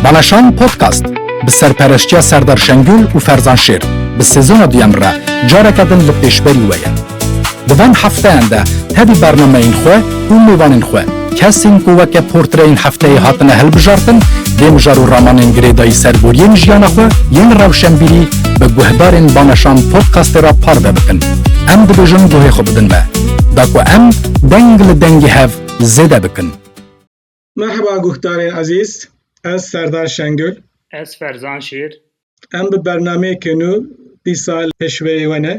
Balaşan Podcast bi serpereştiya Serdar Şengül û Ferzan Şêr bi sezona duyan re careke din li pêşberî we ye. Di van hefteyan de tevî bernameyên xwe û mêvanên xwe kesên ku weke portreyên hefteyê hatine hilbijartin dê mijar û ramanên girêdayî ser boriyên jiyana xwe yên rewşenbîrî bi guhdarên Balaşan Podcastê re parve bikin. Em dibêjin guhê xwe bidin me. Da ku em deng li dengê hev zêde bikin. Merheba guhdarên ezîz, ez Serdar Şengul. Ez Ferzan Şêr. Em bi bernameyekê nû dîsa pêşweyê we ne.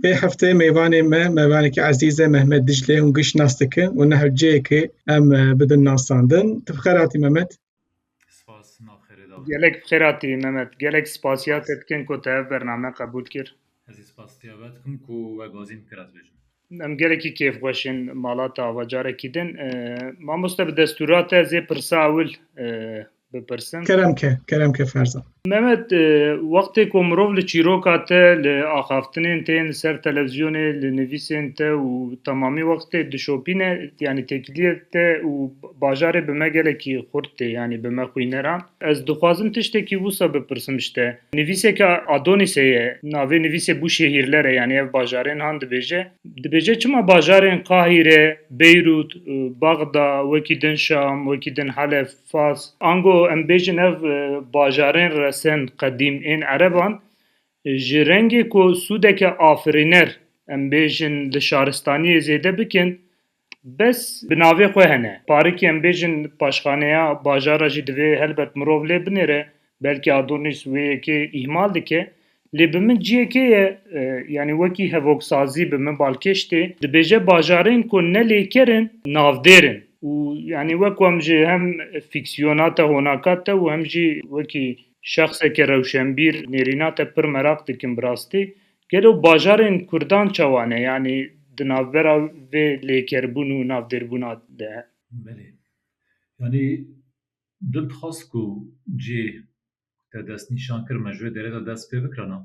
Vê hefteyê mêvanê me mêvanekî ezîz e Mehmet Diclê hûn giş nas dikin û niha cihê ke em bidin nasandin. Tu bi xêr hatî Mehmet. Spas nav xêrê davê. Gelek xêra tî Mehmet. Gelek spasiya te dikin ku te ev bername qebûl kir. Ez ê spasiya we dikim ku we gazî min kir ez bêjim. Em gelekî kêfxweş in mala te ava carekî din. Mamoste bi destûra te ez ê pirsa ewil bipirsim. Kerem ke, kerem ke Ferzan. Mehmet, wextê ku mirov li çîroka te, li axaftinên te yên li ser televîzyonê, li nivîsên te û temamî wextê dişopîne, yanî têkiliyê te û bajarê bi me gelekî xurt tê, yanî bi me xwîneran. Ez dixwazim tiştekî wisa bipirsim ji te. Nivîseke Adonisê ye, navê nivîsê Bû Şehîrler e, yanî ev bajarên han dibêje. Dibêje çima bajarên Qahîre, Beyrût, Bexda, wekî din Şam, wekî din Helef, Fars, ango em bêjin ev bajarên resên qedîm ên ereban ji rengê ku sûdeke afirîner em bêjin li şaristaniyê zêde bikin bes bi navê xwe hene. Parikî em bêjin paşxaneya bajara jî divê helbet mirov lê binêre Belkî Adonis wê yekê îhmal dike lê bi min ciyekê ye yanî wekî hevoksazî bi min balkêş tê. Dibêje bajarên ku ne lêker in navdêr in û yanî wek ku em ji hem fîksiyona te honaka te û hem jî wekî şexseke rewşenbîr nêrîna te pir meraq dikim bi rastî gelo bajarên kurdan çawa ne yanî di navbera vê lêkerbûn û navdêrbûna de he? Belê. Yanî Tu dixwast ku cih ku te destnîşan kir me ji wê derê de dest pê bikirina?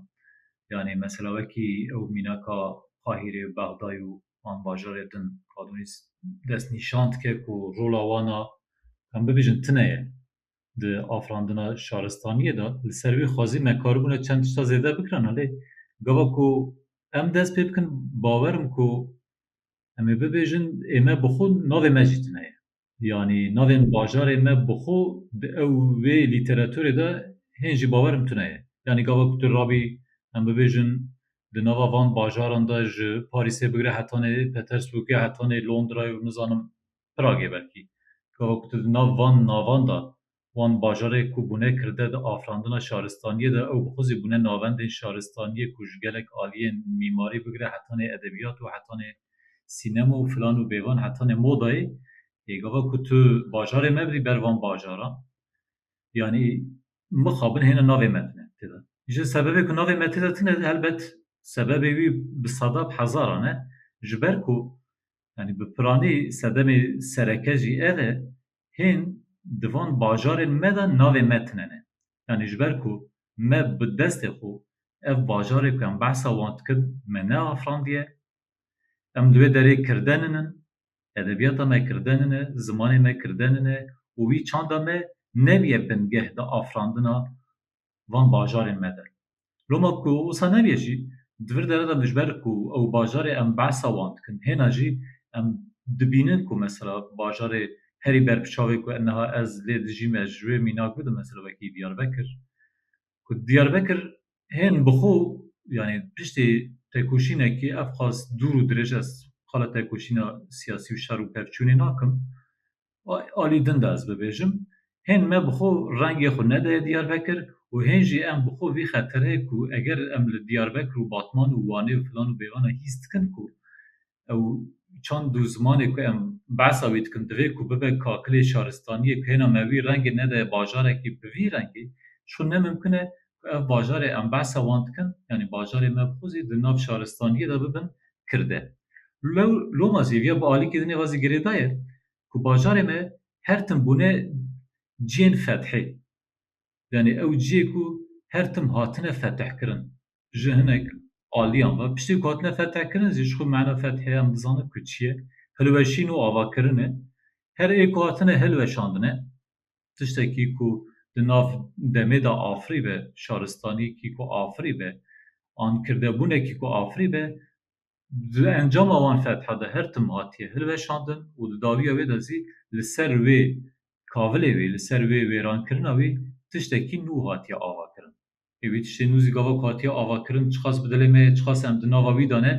Yanî mesela wekî ew mînaka Qahîrê, Bexdayê û an bajarê din Radonîs destnîşan dike ku rola wan a, em bibêjin tune ye di afirandina şaristaniyê de. Li ser wî xwezî me karibûne çend tişta zêde bikirina lê gava ku em dest pê bikin bawer im ku em ê bibêjin ê me bi xwe navê me jî tune ye. Yanî navê min bajarê me bi xwe di ew wê lîteraturê de hên jî bawerim tune ye. Yanî gava ku tu rabî em bibêjin di nava van bajaran de ji Parîsê bigire hetanê Petersburgê hetanê Londrayê û nizanim Pragê belkî gava ku tu di nav van navan de wan bajarê ku bûne kirde di afirandina şaristaniyê de ew bi xwe zî bûne navendên şaristaniyê ku ji gelek aliyên mîmarî bigire hetanê edebiyat û hetanê sînema û filan û bêvan hetanê modayê yê gava ku tu bajarê me birî ber van bajaran yanî mixabin hêne navê me tine têde ji sebebê ku navê me têde tine helbet sebebê wî bi sada bi hezaran e ji ber ku yanî bi piranî sedemê sereke jî ev e hên di van bajarên me de navê me tune ne. Yanî ji ber ku me bi destê xwe ev bajarê ku em behsa wan dikin me neafirandiye, em li wê derê kirdenin in, edebiyata me kirdenin e, zimanê me kirdenin e û wî çanda me nebûye bingeh di afirandina van bajarên me de. Loma ku wisa nebîye jî, di vir dere de mijber ku ew bajarê em behsa wan dikin, hêna jî em dibînin ku mesela bajarê herî ber bi çavê ku niha ez lê dijîm ez ji wê mînak bidim mesela wekî Diyarbekir ku Diyarbekir hên bi xwe yanî piştî tekoşînekî ev qas dûr û dirêj ez qala tekoşîna siyasî û şer û pevçûnê nakim alî din de ez bibêjim hên me bi xwe rengê xwe nedaye Diyarbekir û hên jî em bi xwe vî xetere ku eger em li Diyarbekir û Batman û Wanê û filan û bêvan hîs dikin ku ew çand û zimanê ku em behsa wî dikin divê ku bibe kakilê şaristaniyê ku hêna me wî rengê nedaye bajarekî bi vî rengê ji xwe ne mimkun e ku ev bajarê em behsa wan dikin yanî bajarê me bi xwe zî di nav şaristaniyê de bibin kirde. Lew loma zî vîya bi alîkê dinê ve zî girêdaye ku bajarê me her tim bûne ciyên fethê yanî ew ciyê ku her tim hatine fethkirin. Ji hinek aliyan ve piştî ku hatine fethkirin zî ji xwe mana fethê em dizanin ku çi ye, hilweşîn û avakirin e. Her ê ku hatine hilweşandine tiştekî ku di nav demê de afirîbe, şaristanîkî ku afirîbe an kirdebûnekî ku afirîbe di encama wan fetha de her tim hatiye hilweşandin û di dawiya wê de zî li ser wê kavilê wî, li ser wê wêrankirina wî tiştekî nû hatiye avakirin. Ê wî tiştê nû zî gava ku hatiye avakirin çiqas bi dilê me ye, çiqas em di nava wî de ne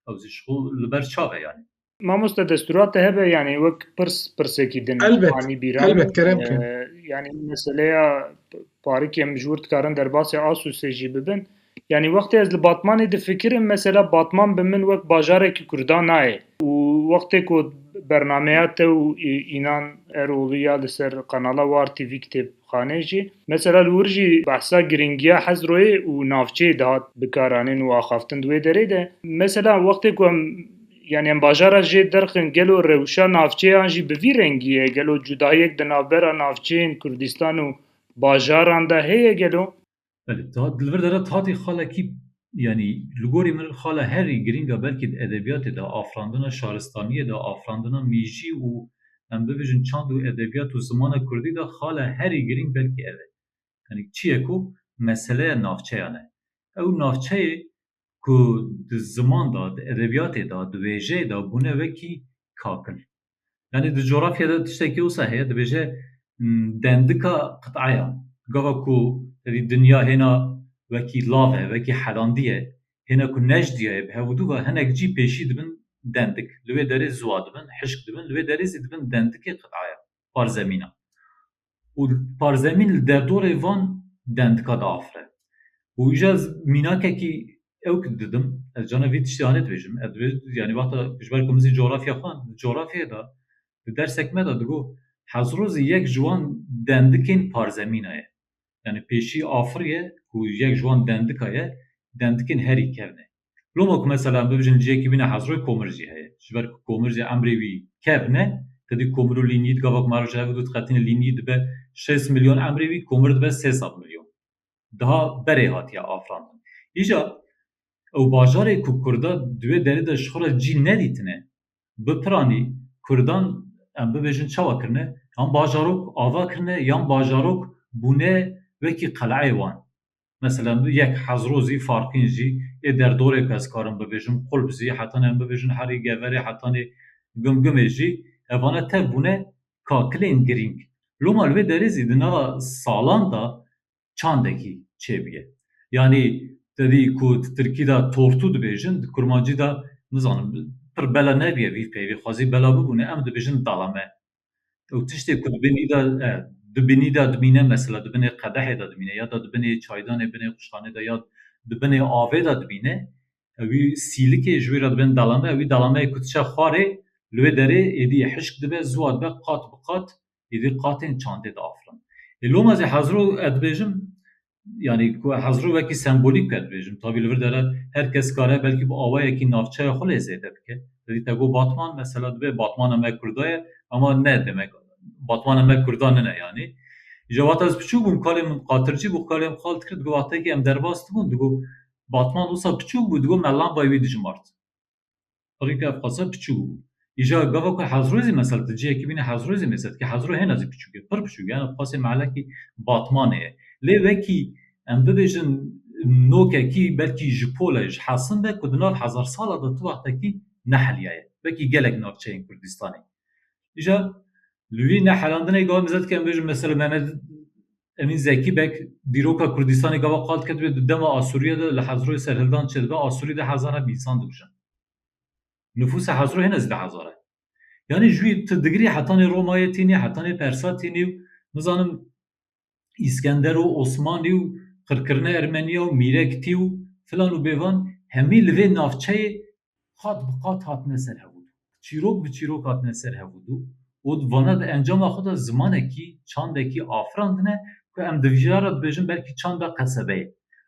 ew zî ji xwe li ber çav e yanî. Mamoste destura te hebe yanî wek pirs pirsekî din anî bîra elbet kerem ke yanî meseleya parikê em ji wir dikarin derbasê Asûsê jî bibin yanî wextê ez li Batmanê difikirim mesela Batman bi min wek bajarekî Kurdan nayê û wextê ku bernameya te û înan Erolî ya li ser qenala war TV kitêb Xanê jî mesela li wir jî behsa girîngiya Hezroyê û navçeyê dihat bikaranîn û axaftin di wê derê de mesela wextê ku em yanî em bajara jê derxin gelo rewşa navçeyan jî bi vî rengî ye gelo cudayiyek di navbera navçeyên Kurdistan û bajaran de heye gelo? Belê ta di vir de re tatê xalekî yanî li gorî min xala herî girîng e belkî di edebiyatê de afirandina şaristaniyê de afirandina mîjî û em bibêjin çand û edebiyat û zimana kurdî de xala herî girîng belkî ev e. Yanî çiyê ku meseleya navçeyan e. Ew navçeyê ku di ziman de di edebiyatê de di wêjeyê de bûne wekî kakil. Yanî di coğrafya de tiştekî wisa heye dibêje dendika qitaya. Gava ku tevî dinya hêna wekî lav e, wekî helandî ye, hêna ku nejdiya ye bi hev û dû ve hinek cî pêşî dibin dendik. Li wê derê ziwa dibin, hişk dibin, li wê derê zî dibin dendikê qitaya, parzemîna. û parzemîn li derdorê van dendika diafire û îja mînakekî ew ku didim ez cana vî tiştê anê dibêjim ez dibêjim yanî wexta ji ber ku min zî coxrafya xwend di coxrafyayê de di dersek me de digot Hezro zî yek ji wan dendikên parzemîna ye yanî pêşî afir ye ku yek ji wan dendika ye dendikên herî kevn e Loma ku mesela bibijin cihekî bîne hezroy komir jî heye. Ji ber ku komir jî emrê wî kevn e, tu dî komir û lînîyî di gava ku ma roj hevik dû diqetinê lînîyî dibe şêst milyon emrê wî komir dibe sê sed milyon. Diha berê hatiye afirandin. Îja ew bajarê ku kurda di wê derê de ji xwe re cî nedîtine bipiranî kurdan em bibêjin çawa kirine? Yan bajarok ava kirine yan bajarok bûne wekî qeleyê wan. Mesela min yek hezro zî farqîn jî ê derdorê ku ez karim bibêjim qulp zî heta nê em bibêjin herî geverê heta nê gum gumê jî evane tev bûne kakilên girîng. Loma li vê derê zî di nava salan de çandekî çêbûye. Yanî te dî ku di tirkî de tortû dibêjin di kurmancî de nizanim pir bela nebûye vî peyvê xwezî bela bibûne em dibêjin dalame. Ew tiştê ku di binî de e, di binî de dimîne mesela di binê qedehê de dimîne ya da di binê çaydanê binê xuşxanê de ya di binê avê de dimîne ewî sîlikê ji wî re dibin delame ewî delameyê ku diçe xwarê li wê derê êdî hişk dibe ziwa dibe qat bi qat êdî qatên çandê diafirin. Ê loma zî hezir û ez dibêjim yani ku hezro wekî sembolîk pê dibêjim tabî li vir dere her kes kare belkî bi awayekî navçeya xwe lê zêde bike. Dibê te got Batman mesela dibê Batmana me Kurda ye ama ne demek Batmana me Kurda nine yanî. Ji wexta ez piçûk bûm kalên min qatircî bû kalên min qal dikir digot wextekî em derbas dibûn digot Batman wisa piçûk bû digot me lambay wî dijimart. Pirî ke ev qasa piçûk bû. Îja gava ku Hezro zî mesel tu cihekî bînî Hezro zî mêsetkî Hezro hêna zî piçûk e, pir piçûk e. Yan ev qasê mehlekî Batmanê ye. Lê wekî em bibêjin nokekî belkî ji pole ji hesin be ku di nav hezarsala de tu wextekî neheliyaye. Wekî gelek navçeyên Kurdistanê. Îja li wî nehelandinê gava mêzet ke em bêjin mesel Mehmed Emîn Zekî Beg dîroka Kurdistanê gava qal diket wê di dema Asûriyê de li Hezroyê serhildan çêdibe Asûrî deh hezar heb însan dikujin. Nifûsa Hezro hê nezdî hezar e. Yanî ji wî tu digirî hetanê Romayê tînî, hetanê Persa tînî û nizanim Îskender û Osmanî û qirkirina Ermeniya û Mîrektî û filan û bêvan hemî li vê navçeyê qat bi qat hatine ser hevûdû. Çîrok bi çîrok hatine ser hevûdû û di vana di encama xwe de zimanekî, çandekî afirandine ku em divjîya re dibêjin belkî çanda qesebeyê.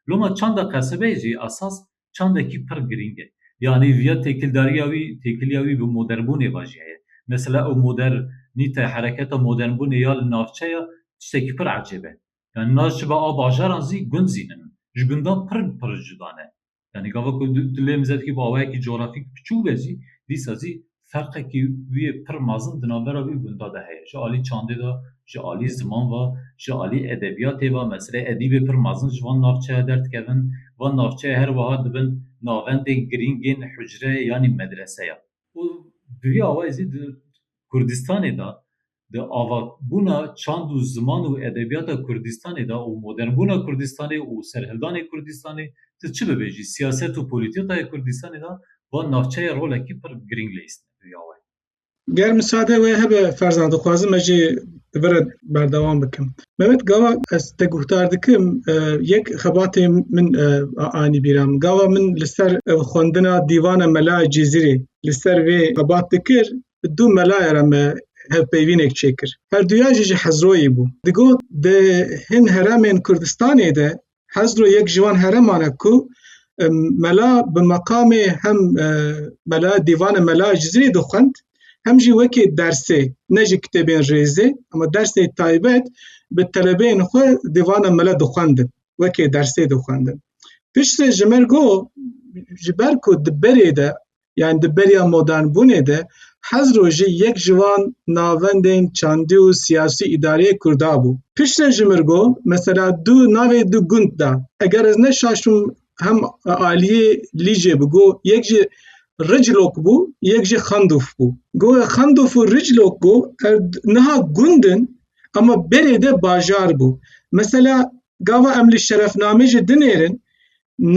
Loma çanda qesebeyê jî esas çandekî pir girîng e. Yanî viya têkildariya wî, têkiliya wî bi modernbûnê ve jî heye. Mesela ew moder nîte hereketa modernbûnê ya li navçe ya tiştekî pir ecêb e. Yanî navçe be a bajaran zî gund zî nin. Ji gundan pir pir cuda ne. Yanî gava ku tu lê min zedikî bi awayekî cografîk piçûk be jî dîsa jî ferqekî wî yê pir mezin di navbera wî û gunda de heye. Ji alî çandê de, ji alî ziman ve, ji alî edebiyatê ve mesela edîbê pir mezin ji van navçeya derdikevin. Van navçeya her wiha dibin navendên girîng ên hucre yanî medrese ya. Û bi vî awayî jî di Kurdistanê de di avakbûna çand û ziman û edebiyata Kurdistanê de û modernbûna Kurdistanê û serhildanê Kurdistanê ti çi bibêjî siyaset û polîtîkaya Kurdistanê de van navçeyê rolekî pir girîng leyîstîne rîya we. Ger misade we hebe ferzan dixwazim me jî li vir re berdewam bikim. Mehmet gava ez te guhdar dikim yek xebatê min anî bîra min. Gava min li ser xwendina dîvana Mela Cizîrê li ser vê xebat dikir bi du melayê re me hevpeyvînek çêkir. Herduyan jî ji Hezroyê bû. Digot di hin heremên Kurdistanê de Hezro yek ji wan hereman e ku mela bi meqamê hem mela dîvane mela ji zirê dixwend hem jî wekê dersê ne ji kitêbên rêzê ama dersê taybet bi telebeyên xwe dîvana mela dixwendin wekê dersê dixwendin. Piştre ji min got ji ber ku di berê de Yani di beriya modernbûnê de hez rojî yek ji wan navendên çandî û siyasî îdareyê Kurda bû. Piştre ji mir got, mesela du navê du gund da. Eger ez neşaşim hem aliyê Lîcê bi got yek jî Riclok bû yek jî Xandûf bû. Got Xandûf û Riclok got ev niha gund in ama berê de bajar bû. Mesela gava em li şerefnamê jî dinêrin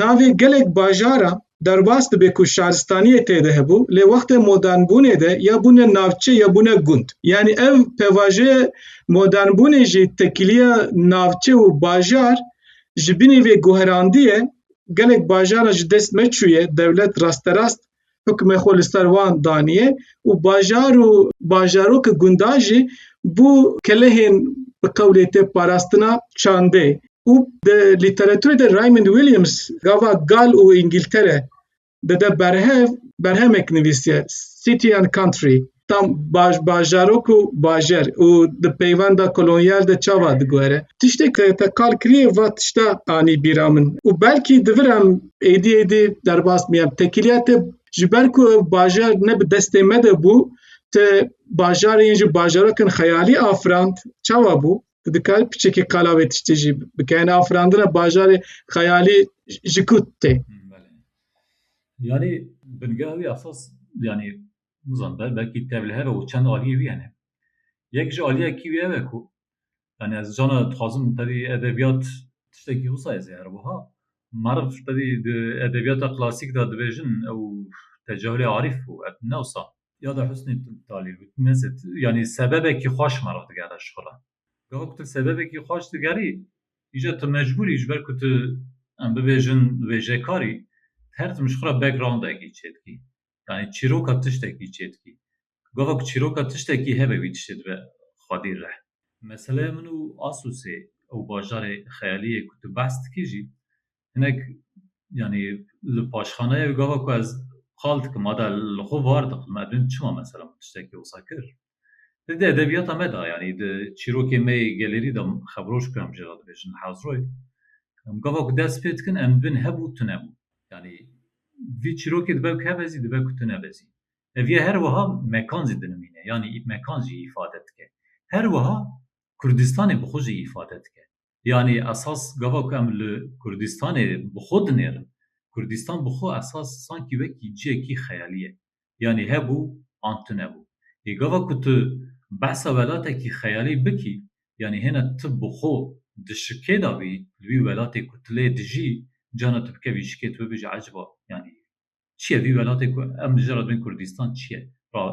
Navê gelek bajara derbas dibe ku şaristaniyê tê de hebû lê wextê modernbûnê de ya bûne navçe ya bûne gund. Yanî ev pevajeyê modernbûnê jî tekîliya navçe û bajar ji binî vê guherandiyê gelek bajara ji dest me çûye dewlet rasterast hukmê xwe li ser wan daniye û bajar û bajarokê gundan jî bû kelehên bi qewlê tê parastina çandê û di lîteraturê de Raymond Williams gava Gal û Îngîltere dide berhev berhemek nivîsiye City and Country tam baş bajarok û bajer û di peywenda kolonyal de çava digore. Tiştek te te kal kiriye va tişta anî bîra min û belkî divir em êdî êdî derbas bîyem. Tekîliya te ji ber ku ew bajar ne bi destê me de bû, te bajarê yên ji bajarokin xeyalî afirand, çawa bû? Tu dikarî piçekî qala vê tiştê jî bike. Yane afirandina bajarê xeyalî ji ku tê? Belê. Yanî bingeh wî esas yanî nizan be belkî tev li hev e û çend aliyê wî hene. Yek ji aliyekî wî ew e ku yani ez cana dixwazim tevî edebiyat tiştekî wisa ez ê her wiha meriv tevî di edebiyata klasîk de dibêjin ew tecehulê arîf bû ev ne wisa. Ya da Husnî Talî got nezê tu yanî sebebekî xweş meriv digere şixula. Gaha ku tu sebebekî xweş digerî îcar tu mecbûr î ji ber ku tu em bibêjin wêjekarî her tim jixwe re backgroundekî çêdikî. yanî çîroka tiştekî çê dikî. Gava ku çîroka tiştekî hebe wî tiştê dibe xwedî rih. Meseleya min û Asûsê ew bajarê xeyalî yê ku tu behs dikî jî hinek yanî li paşxaneyê gava ku ez qal dikim ada li xwe var dixwim, ev din çima mesela min tiştekî wisa kir? Di di edebiyata me de yanî di çîrokê me yê gelerî de xevroj ku em jê re dibêjin hazroy em gava ku dest pê dikin em bin hebû tu nebû yanî vî çîrokê dibe ku hebe zî dibe ku tu nebe zî. Ev yê her wiha mekan zî dinimîne yanî mekan jî îfade dike. Her wiha Kurdistanê bi xwe jî îfade dike. Yanî esas gava ku em li Kurdistanê bi xwe dinêrin, Kurdistan bi xwe esas sankî wekî ciyekî xeyalî ye. Yanî hebû an tunebû. Yê gava ku tu behsa welatekî xeyalî bikî, yanî hêna tu bi xwe di şikê de bî, li wî welatê ku tu lê dijî, cana tu bikevî şikê tu bibêjî eciba yanî Çi ye vî welatê ku em li jê re bin Kurdistan çi ye? Ra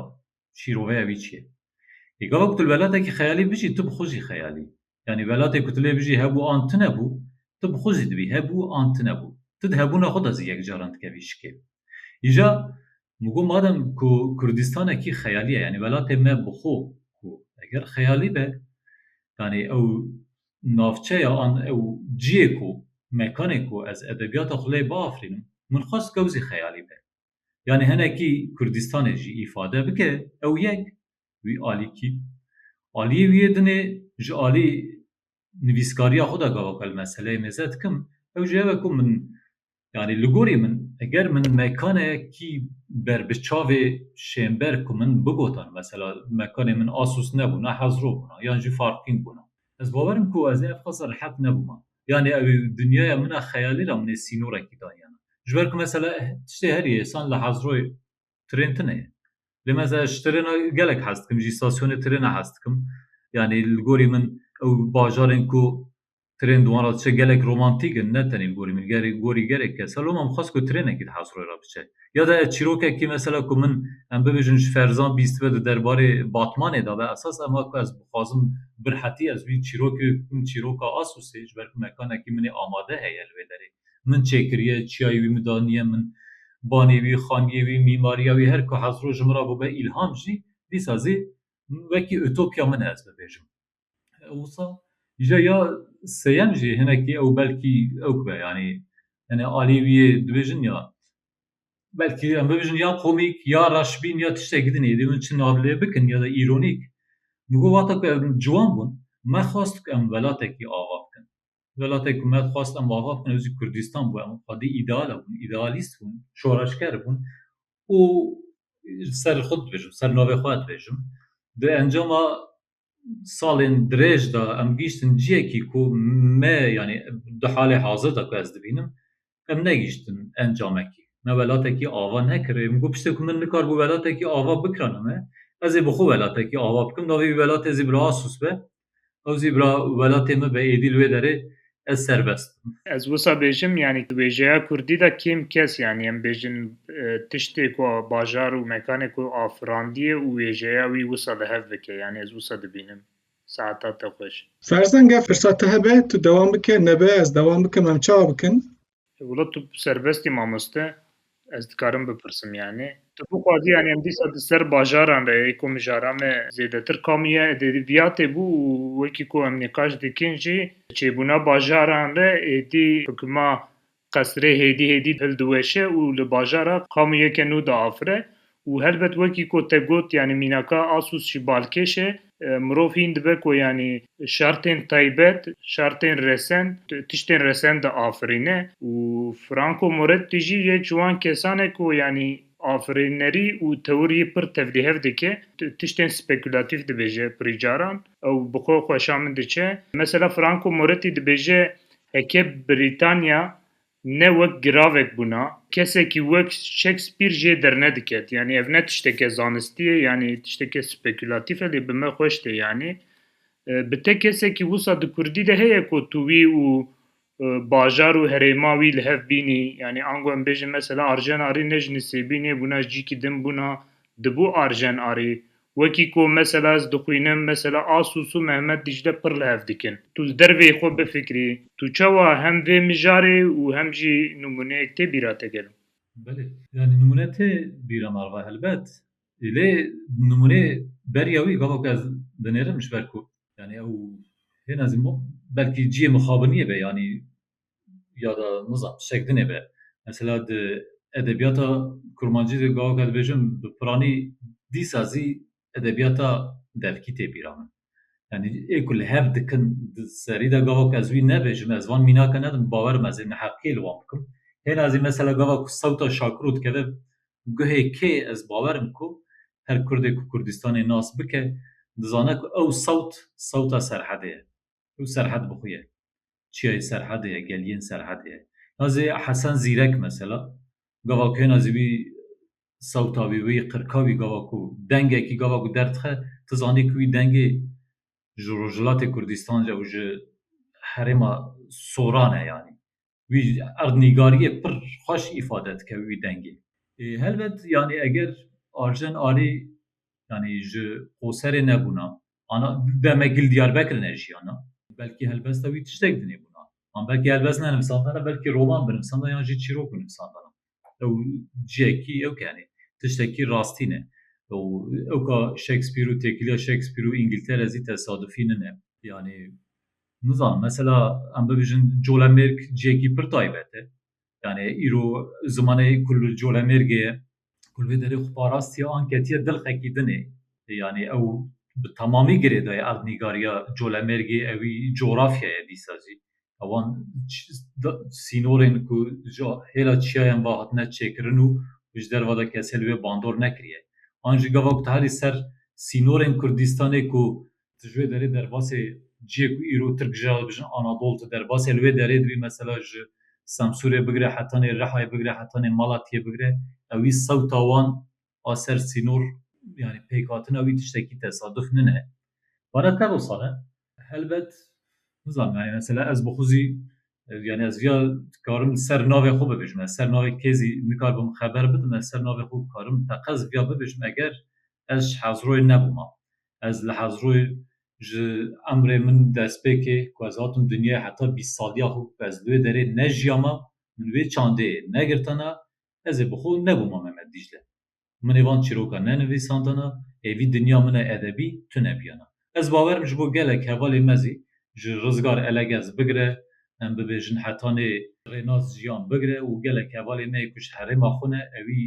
şîroveya wî çi ye? Ê gava ku tu li welatekî xeyalî bijî tu bi xwe jî xeyal î. Yanî welatê ku tu lê bijî hebû an tune bû, tu bi xwe jî dibî hebû an tune bû. Tu di hebûna xwe de zî yek caran dikevî şikê. Îja min got madem ku Kurdistanekî xeyalî ye yanî welatê me bi xwe ku eger xeyalî be yanî ew navçeya an ew ciyê ku mekanê ku ez edebiyata xwe lê biafirînim min xwest ku ew zî xeyalî be. Yanî hinekî Kurdistanê jî îfade bike ew yek wî alîkî aliyê wî yê dinê ji alî nivîskariya xwe de gava ku ez meseleyê mêze dikim ew jî ev e ku min Yanî li gorî min eger min mekanekî ber bi çavê şênber ku min bigotan mesela mekanê min Asus nebûna Hezro bûna yan jî Farpîn bûna ez bawerim ku ez ev qas rehet nebûma yanî ew ê dinyaya min a xeyalî ra min ê sînorekî daniyana ji ber ku mesela tiştê herî êsan li Hezroyê tirên tune ye lê mesela ji tirêna gelek hez dikim jî îstasyonê tirêna hez dikim yanî li gorî min ew bajarên ku Trên di wan re diçe gelek romantîk in, ne tenê li gorî min, li gorî gelek kes. Loma min xwest ku trênekî di Hersrûyê re biçe. Ya de ez çîrokekî mesela ku min em bibêjin ji ferzan bîstibe di derbarê Batmanê de be, esas em a ku ez bixwazim birhetî ez wî çîrokê bikim çîroka Asûsê ji ber ku mekanekî min ê amade heye li vê derê. Min çêkiriye, çiyayê wî min daniye min. Banê wî, xaniyê wî, mîmariya wî her ku Hersrû ji min re bûbe îlham jî, dîsa zî wekî utopya min e ez bibêjim. Wisa îja ya seyem jî hinekî ew belkî ew kibe yanî hinê alî wî yê dibêjin ya belkî em bibêjin ya komîk ya reşbîn ya tiştekî din êdî min çi nav lê bikin ya da îronîk min got wata ku ev ciwan bûn me xwest ku em welatekî ava bikin welatekî ku me xwest em ava bikin ew jî kurdîstan bû em xwedî îdeal hebûn îdealîst bûn şoreşger bûn û li ser xwe dibêjim li ser navê xwe dibêjim di encama salên dirêj de em gihîştin ciyekî ku me yanî di halê hazir de ku ez dibînim em negihîştin encamekî. Me welatekî ava nekirê. Min got piştê ku min nikaribû welatekî ava bikirana me, ez ê bi xwe welatekî ava bikim. Navê wî welatê Zîbra Asus be. Ew Zîbra welatê min be, êdî li wê derê ez serbest bim. Ez wisa bêjim yanî tu wêjeya Kurdî de kêm kes yanî em bêjin tiştê ku bajar û mekanê ku afirandiye û wêjeya wî wisa li hev bike yanî ez wisa dibînim saeta te xweş. Ferzan gef firsat te hebe tu dewam bike nebe ez dewam bikim em çawa bikin Wilo tu serbestî mamoste ez dikarim bipirsim yanî tu bixwazî yanî em dîsa di ser bajaran re yê ku mijara me zêdetir kamî ye êdî viyatê bû û wekî ku em nîqaş dikin jî çêbûna bajaran re êdî hukuma qesirê hêdî hêdî hildiweşe û li bajara kamî yeke nû diafire Û helbet wekî ku te got yanî mînaka Asus jî balkêş e. Mirov hîn dibe ku yanî şertên taybet, şertên resend, tiştên resend diafirîne û Franco Moretti jî yek ji wan kesan e ku yanî afirînerî û tewirî pir tevlîhev dike, tiştên spekûlatîf dibêje pirî caran. Ew bi xwe xweşa min diçe. Mesela Franco Moretti dibêje heke Brîtanya Ne wek giravek bûna, kesekî wek Shakespeare jê dernediket. Yanî ev ne tişteke zanistî ye, yanî tişteke spekulatîf e lê bi me xweş tê. Yanî bi te kesekî wisa di kurdî de heye ku tu wî û bajar û herêma wî li hev bînî. Yanî ango em bêjin mesela Arjen Arî ne ji Nisêbînê bûna, ji cîkî din bûna, dibû Arjen Arî. Wekî ku mesela ez dixwînim, mesela Asûs û Mehmet Dîcle pir li hev dikin. Tu li derveyî xwe bifikirî, tu çawa hem vê mijarê û hem jî nimûneyek tê bîra te gelo? Belê, yanî nimûne tê bîra me re helbet. Lê nimûnê beriya wî gava ku ez dinêrim ji ber ku yanî ew hêna zî belkî ciyê mixabiniyê be yanî ya da nizam çek dinêbe. Mesela di edebiyata kurmancî de gawaka dibêjin bi piranî dîsa zî edebiyata devkî tê bîra min. Yani ê ku li hev dikin di serî de gavak ez wî nebêjim ez van mînake nedim bawer me zê neheqiyê li wan bikim. Hêna zî mesela gava ku sewta Şakiro dikeve guhê kê ez bawerim ku her kurdê ku Kurdistanê nas bike dizane ku ew sewt sewta serhedê ye. Ew Serhed bi xwe ye. Çiyayê Serhedê ye, geliyên Serhedê ye. Na zê Hesen Zîrek mesela, gava ku hêna zî wî sewta wî, wî qirka wî gava ku dengekî gava ku derdixe, tu zanî ku wî dengê ji Rojhilatê Kurdîstan re û ji herêma Soran e yanî. wî erdnîgariyê pir xweş îfade dike wî dengê. Helbet yanî eger Arjen Arî yanî ji Qoserê nebûna, ana be me gil Diyarbekir nejiyana. Belkî helbesta wî tiştek dinê bûna. An belkî helbest nenivîsandana, belkî roman binivîsandana yan jî çîrok binivîsandana. ew ciyekî ew kenê tiştekî rastî ne û ew ka Shakespeare û têkiliya Shakespeare û Îngiltere zî tesadufî nine. Yanî nizanim mesela em bibêjin colemêrg ciyekî pir taybet e. Yanî îro zimanê ku li colemêrgê ye, ku li vê derê xwe parastiye an ketiye dil xekî din ê. Yanî ew bi temamî girêdayê erdnîgariya colemêrgê ewî cografyaya dîsa jî ewan sînorên ku ji hêla çiyayan ve hatine çêkirin û ji derve de kesê li wê bandor nekiriye. An ji gava ku tu herî ser sînorên Kurdistanê ku tu ji wê derê derbasê ciyê ku îro Tirk ji hev dijin Anadol tu derbasê li wê derê dibî mesela ji Semsûrê bigire heta nê Rihayê bigire heta nê Malatiyê bigire ewî sewta wan a ser sînor yanî pêkhatina wî tiştekî tesaduf nine. Vana te rosan e. Helbet nizanim yanî mesela ez bi xwe zî yanî ez viya dikarim li ser navê xwe bibêjim. Ez ser navê kê zî nikarbim xeber bidim. Ez ser navê xwe karim teqez viya bibêjim eger ez ji Hezroyê nebûma. Ez li Hezroyê ji emrê min destpêkê ku ez hatim dinyayê heta bîst saliya xwe ku ez li wê derê nejiyama min wê çandeyê negirtina Ez ê bi xwe nebûma Memed Dîcle. Min ê van çîrokan nenivîsandana, ê vî dinya min e edebî tune biyana. Ez bawer im ji bo gelek hevalên me zî ji Rizgar Elegez bigire, em bibêjin heta nê Rênaz Jiyan bigire û gelek hevalên me yê ku ji herêma xwe ne, ewî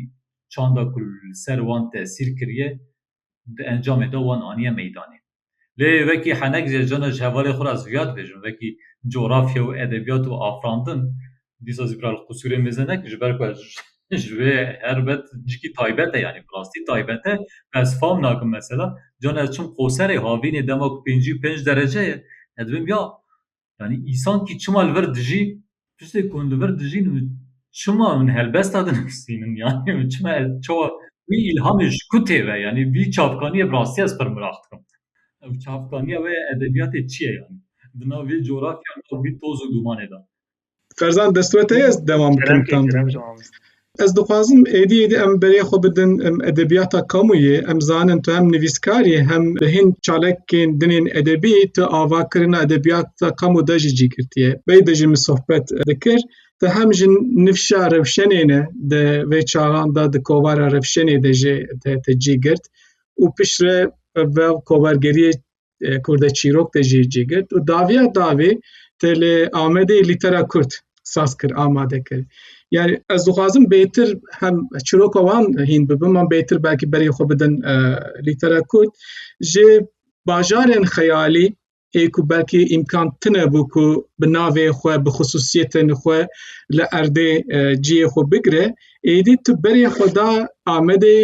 çanda ku li ser wan tesîr kiriye di encamê de wan aniye meydanê. Lê wekî henek jê cana ji hevalê xwe re ez viyad bêjim wekî cografya û edebiyat û afirandin dîsa zî bral qusûrê mêze ne ji ber ku ez ji wê her bet cikî taybet e yanî bi rastî taybet e ku ez fam nakim mesela cana ez çûm qoserê havînê dema ku pêncî û pênc derece ye ez dibim ya Yanî îsankî çima li vir dijî tiştê ku hûn li vir dijîn û çima hûn helbesta dinivîsînin yanî hûn çima çawa wî îlhamê ji ku tê ve yanî vî çavkaniyê bi rastî ez pir miraq dikim. Ev çavkaniya wê ya edebiyatê çi ye yanî di nav vê coğrafya nav vî toz û dumanê de. Ferzan destwete ez devam bikim tam. Ez dixwazim êdî êdî em berê xwe bidin em edebiyata kamûyê em zanin tu hem nivîskarî hem bi hin çalekên dinên edebî tu ava kirina edebiyata kamû de jî cîgirtiye. Bey de jî min sohbet dikir te hem ji nifşa rewşenê ne de vê çaxan de di kovara rewşenê de jê te te cîgirt û piştre ve kovergeriyê Kurde çîrok de jî cîgirt û daviya davê te li Amedê lîtera Kurd saz kir amade kir. Yani ez dixwazim bêtir hem çiroka wan hîn bibim an bêtir belkî berê xwe bidin e, lîtera Kurd ji bajarên xeyalî ê ku belkî îmkan tine bû ku bi navê xwe bi xisûsiyetên xwe li erdê e, ciyê xwe bigire êdî tu berê xwe da Amedê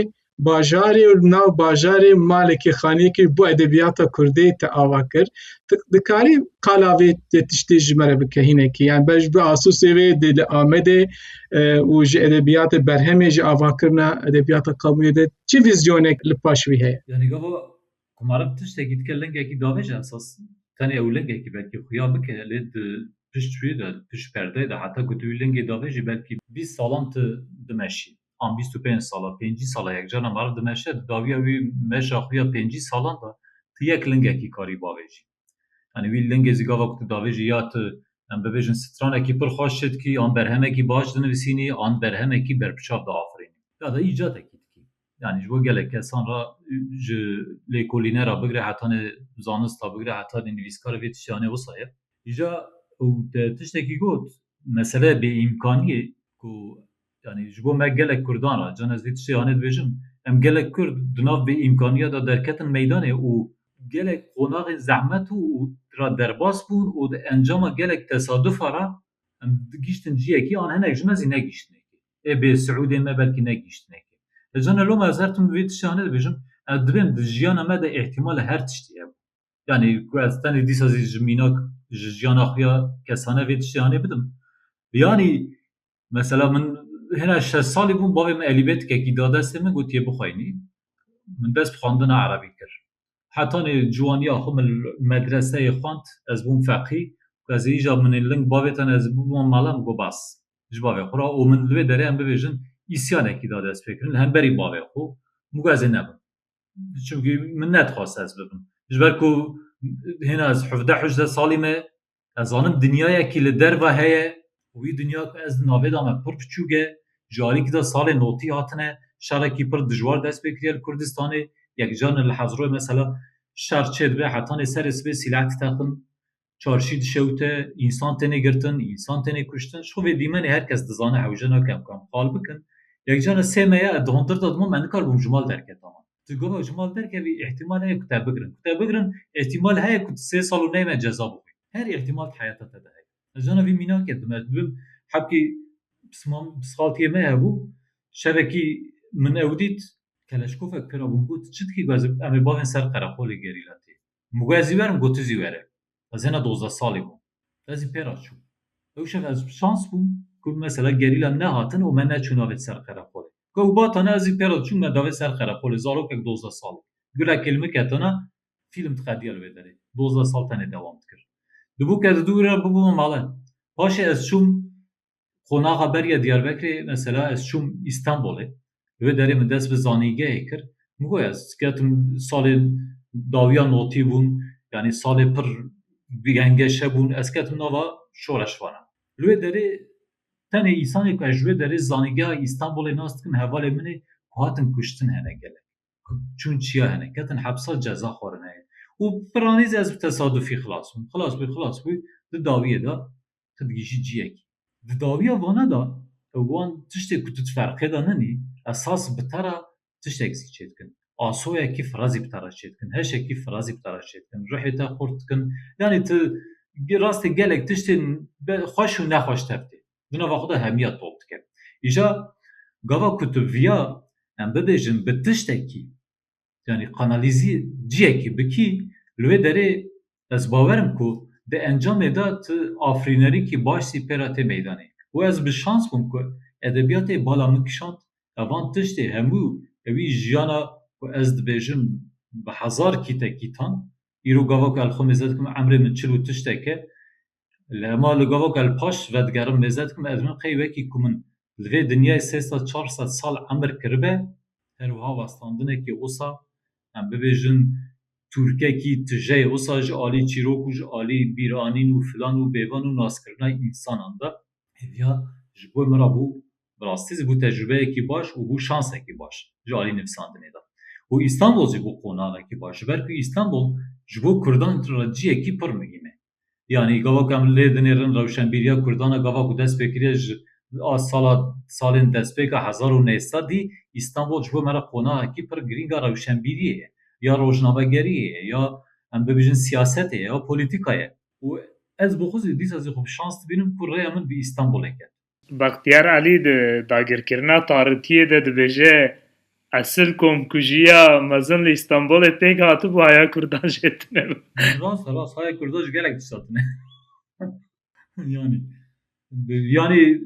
bajarê û li nav bajarê malekî xaneyekî bo edebiyata kurdê te ava kir tu dikarî qala vê vê tiştê ji me re bike hinekî yan ber ji bo asûsê vê dê li Amedê û ji edebiyatê berhemê ji avakirina edebiyata qemûyê de çi vizyonek li paş vî heye? Ku meriv tiştekî dike lingekî davêje esas tenê ew lingekî belkî xuya bike lê di pişt wî de di pişt perdeyê de heta ku tu wî lingê davêjî belkî bîst salan tu dimeşî an bîst û pênc sala pêncî sala yek carna meriv dimeşe di dawiya wî meşa xwe ya pêncî salan de tu yek lingekî karî bavêjî. Yanî wî lingê zî gava ku tu davêjî ya tu em bibêjin stranekî pir xweş çê dikî, an berhemekî baş dinivîsînî, an berhemekî berpiçav diafirînî. Ya da îcatekî dikî. Yanî ji bo gelek kesan re ji lêkolîne re bigire heta nê zanista bigire heta nê nivîskar vê tiştiyan ê wisa ye. Îja ew te tiştekî got, mesele bêîmkaniyê ku Yanî ji bo me gelek Kurdan re can ez vê tiştê anê dibêjim, em gelek Kurd di nav vê îmkaniya de derketin meydanê û gelek qonaxên zehmet û re derbas bûn û di encama gelek tesadufan re em gihîştin ciyekî an hinek ji me zî negihîştinê kê. Ê bê Siûdên me belkî negihîştinê kê. Lê can e loma ez her tim vê tiştê anê dibêjim, ez dibêm di jiyana me de îhtîmala her tiştî hebû. Yanî ku ez tenê dîsa zî ji mînak ji jiyana xwe ya kesane vê tiştê anê bidim. Yanî Mesela min hêna şeş salî bûm bavê min elîbetikekî da destê min gotiye bixwînî. Min dest bi xwendina erebî kir. Heta nê ciwaniya xwe min medreseyê xwend, ez bûm feqî û ez ê îja min ê ling bavê tenê ez ê bibima mala min got bes ji bavê xwe re û min li vê derê em bibêjin îsyanekî da destpêkirin li hemberî bavê xwe min got ez ê nebim. Çimkî min nedixwest ez bibim. Ji ber ku hêna ez hevdeh-hejde salî me Ez zanim dinyayekî li derve heye û wî dinya ku ez di navê de me pir biçûk e. Ji alîkî de salê notî hatine şerekî pir dijwar dest pê kiriye li Kurdistanê. Yekcarine li Hezroyê mesela şer çêdibe hetanê serê sibê sîleh ditexin, çarşî dişewite, însan têne girtin, însan têne kuştin. Ji xwe vê dîmenê her kes dizane hewce nake em kam qal bikin. Yekcarine sê me ye ez di hundir de dimam me nikarbûm ji mal derketam. Ti gelo ji mal derkevî îhtîmal heye ku te bigirin. Ku te bigirin îhtîmal heye ku tu sê sal û neyme ceza bixwî. Her îhtîmal di heyata te de heye. Ez jana vî mînakê dim. Ez dibim hebkî pisxaltiyê me hebû şevekî min ew dît keleşkofek pêra bûn got çi dikî? Got em ê bavên ser qereqolê gerîla tê. Min got ez zî werim got tu zî were. Ez hêna dozdeh salî bûm. Ez zî pê re çûm. Ew şev ez bi şans bûm ku mesela gerîlan nehatin û me neçû navê ser qereqolê. Ku ew batane ez zî pê re diçûm me davê ser qereqolê zarokek dozdeh salî. Gule kê li min ketine fîlm diqediya li wê derê. Dozdeh sal tenê dewam dikir. Dibû ke di dû wî re bibûme mala. Paşê ez çûm Qonaxa beriya Diyarbekirê mesela ez çûm Îstanbolê divê derê min dest bi zanîngehê kir min got ez ketim salê dawiya notî bûn yanî salê pir gengeşe bûn ez ketim nava şoreşvanan. Li wê derê tenê însanê ku ez ji wê derê zanîngeha Îstanbolê nas dikim hevalên min ê ku hatin kuştin hene gelek ku çûn çiya hene ketin hepsa ceza xwarin heye û piranî zî ez bi tesadufî xilas bûm xilas bû xilas bû di dawiyê de tu digihîjî ciyekê. Di dawiya vana de ew wan tiştê ku tu di ferqê de ninî, esas bi te re tiştek zî çêdikin. Asoyekî firazî bi te re çêdikin, heşekî firazî bi te re çêdikin, ruhê te xurt dikin. Yanî tu rastê gelek tiştên xweş û nexweş tev tê. Di nava xwe de hemiya top dike. Îja gava ku tu viya em bibêjin bi tiştekî yani kanalîzî ciyekî bikî li wê derê ez bawer im ku di encamê de tu afirînerikî baş zî pê re tê meydanê û ez bi şans bûm ku edebiyatê bala min kişand evan tiştê hemû ewî jiyana ku ez dibêjim bi hezar kîtekîtan îro gava ku elxwe mêze dikim emrê min çil û tişteke Li hema li gavaka li paş vedigerim mêze dikim ez min qey wekî ku min li vê dinyayê sê sed çar sed sal emir kiribe her wiha westandinekî wisa em bibêjin tûrkekî tijeyê wisa ji alî çîrok û ji alî bîranîn û filan û bêvan û naskirina însanan de hêviya ji bo min re bû bi rastî zî bû tecrûbeyekî baş û bû şansekî baş ji alî nivîsandinê de. Û Îstanbul jî bû qonavekî baş ji ber ku Îstanbul ji bo kurdan re ciyekî pir muhîm e. Yanî gava ku em li lê dinêrin rewşenbîriya Kurdan e gava ku dest pê kiriye ji a sala salên destpêka hezar û neh sed dî Îstanbul ji bo me re qonahekî pir girîng a rewşenbîriyê ye ya rojnamegeriyê ye ya em bibêjin siyasetê ye ya polîtîka ye û ez bi xwe zî dîsa zî xwe bi şans dibînim ku rêya min bi Îstanbulê ket. Bextiyar Elî di dagirkirina taritiyê de dibêje, Esil komkujiya mezin li Îstanbulê pêk hatibû haya Kurdan jê tune bû. Rast e rast haya Kurdan ji gelek tişta tune. Yanî yanî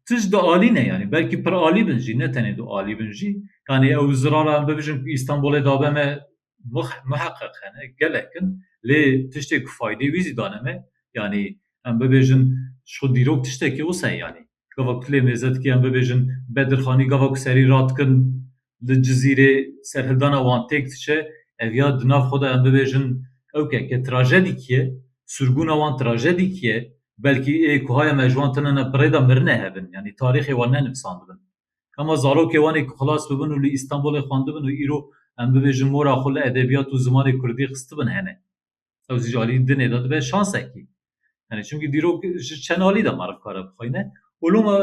tişt di alî ne yanî belkî pir alî bin jî ne tenê du alî bin jî yanî ew zirara em bibijin Îstanbulê dabe me muheqeq hene, gelek in lê tiştê ku faydê wî zî dane me yanî em bibêjin ji xwe dîrok tiştekî wisa ye yanî gava ku tu lê mêze dikî em bibêjin Bedirxanî gava ku serî radikin li Cizîrê serhildana wan têk diçe ev ya di nav xwe de em bibêjin ok e ke trajedîkî ye sûrbûna wan trajedîkî ye belkî ê ku haya me ji wan tune ne bi rê de mirine hev in yanî tarîxê wan ne nivisandibin. Hema zarokê wan ê ku xilas bibin û li Îstanbulê xwendibin û îro em bibêjin mora xwe li edebiyat û zimanê kurdî xistibin hene. Ew zî ji aliyî dinê de dibe şansekî. Yanî çimkî dîrok ji çend alî de meriv kare bixwîne û loma